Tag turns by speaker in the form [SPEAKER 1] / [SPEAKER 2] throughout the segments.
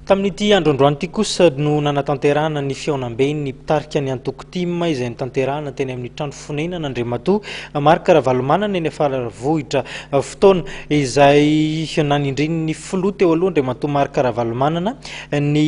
[SPEAKER 1] Tamin'ity andro androany ity kosa no nanatanterahana ny fihaonambe ny mpitarika ny antoko tim izay notanterahana teny amin'ny trano fonenana Andriamatoa Marc Ravalomanana eny Faravohitra. Fotoana izay nanindrin'ny filoha teo aloha Andriamatoa Marc Ravalomanana ny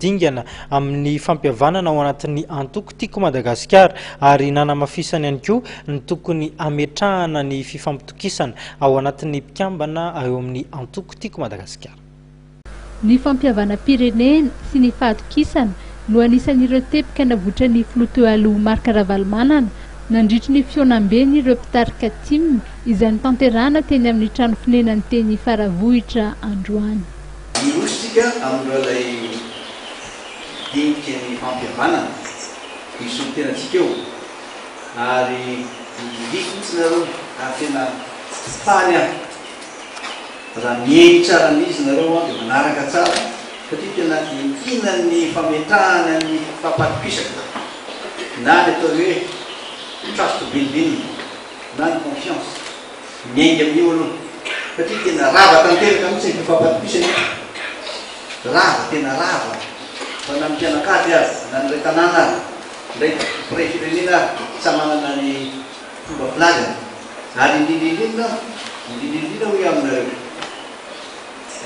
[SPEAKER 1] dingana amin'ny fampihavanana ao anatin'ny antoko Tiako Madagasikara ary nanamafisany ihany koa ny tokony hametrahana ny fifampitokisana ao anatin'ny mpikambana eo amin'ny antoko Tiako Madagasikara. Ny
[SPEAKER 2] fampihavanam-pirenena sy ny fahatokisana no anisan'ireo teboka navotran'ny filoha teo aloha Marc Ravalomanana nandritry ny fihaonambeny ireo mpitarika tim izay notanterahana teny amin'ny trano fonenany teny Faravohitra androany. Miroso isika
[SPEAKER 3] amin'ireo izay dinika ny fampihavanana, misolo tena antsika eo ary midiridiko mihitsy nareo ary tena faly aho. Raha miely tsara ny izy nareo an dia manaraka tsara satria tena entinan'ny fametrahana ny fampatokisaka na ny atao hoe trust building na ny confiance. Miainga amin'io aloha satria tena rava tanteraka mihitsy ny fampatokisana io. Rava tena rava fa na ny mpianakavy ary na ny iray tanàna ary indray mpitondra firenena ary samy manana ny fomba filazana. Ary indrindra indrindra aho, indrindra indrindra hoy aho aminareo,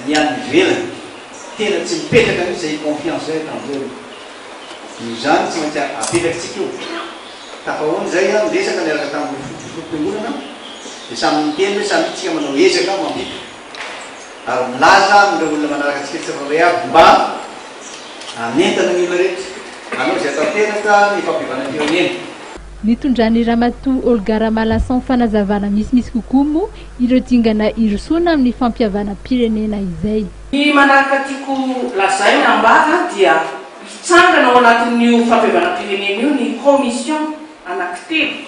[SPEAKER 3] ny any ivelany, tena tsy mipetraka mihitsy izay confiance eto amin'izao io. Noho izany tsy maintsy apetrakitsika io. Tafahaona izay aho niresaka niaraka tamin'ireo fotompiongonana dia samy niteny hoe samia tsika manao ezaka mampita ary milaza amin'ireo olona manaraka antsika tsirairay avy mba hanentana ny olona rehetra hanao izay hatanteraka ny fampihavana firenena. Nitondran'i
[SPEAKER 2] Ramatoa Olga Ramalason fanazavana misimisy kokoa moa ireo dingana hirosoana amin'ny fampihavanam-pirenena izay. Ny manaraka
[SPEAKER 4] tiako lazaina ambara dia hitsangana ao anatin'io fampihavanam-pirenena io ny commission anankitelo,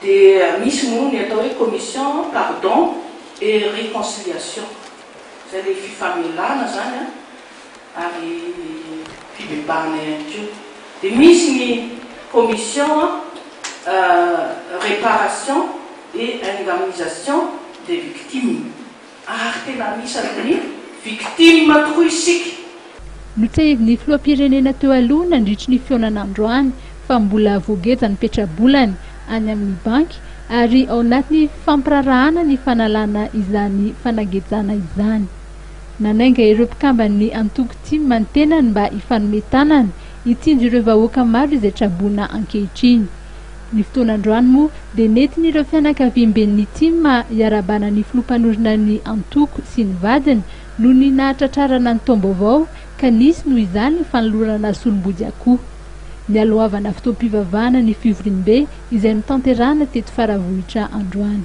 [SPEAKER 4] dia misy moa ny atao hoe commission pardon et reconciliation, izay ilay fifamelana izany an, ary ny fibebahana ihany koa. Dia misy ny commission reparation et indemnisation des victimes ary tena anisan' ny victimes tokoa isika. Notsahivin'
[SPEAKER 2] ny filoham-pirenena teo aloha nandritry ny fihaonana androany fa mbola voageja ny petra-bolany any amin' ny banky ary ao anaty fampiraharahana ny fanalana izany fanagejana izany. Nanainga ireo mpikamban'ny antoko Tim ny tenany mba hifanome tanana hitsinjo ireo vahoaka maro izay traboina ankehitriny. Ny fotoana androany moa dia nentin'ireo fianakaviamben'ny Tim iarahabana ny filoha mpanorina ny antoko sy ny vadiny noho ny nahatratrarana ny taom-baovao ka nisy noho izany fanolorana solom-bodiakoho. Nialohavana fotoam-pivavahana ny fivoriambe izay notanterahana teto Faravohitra androany.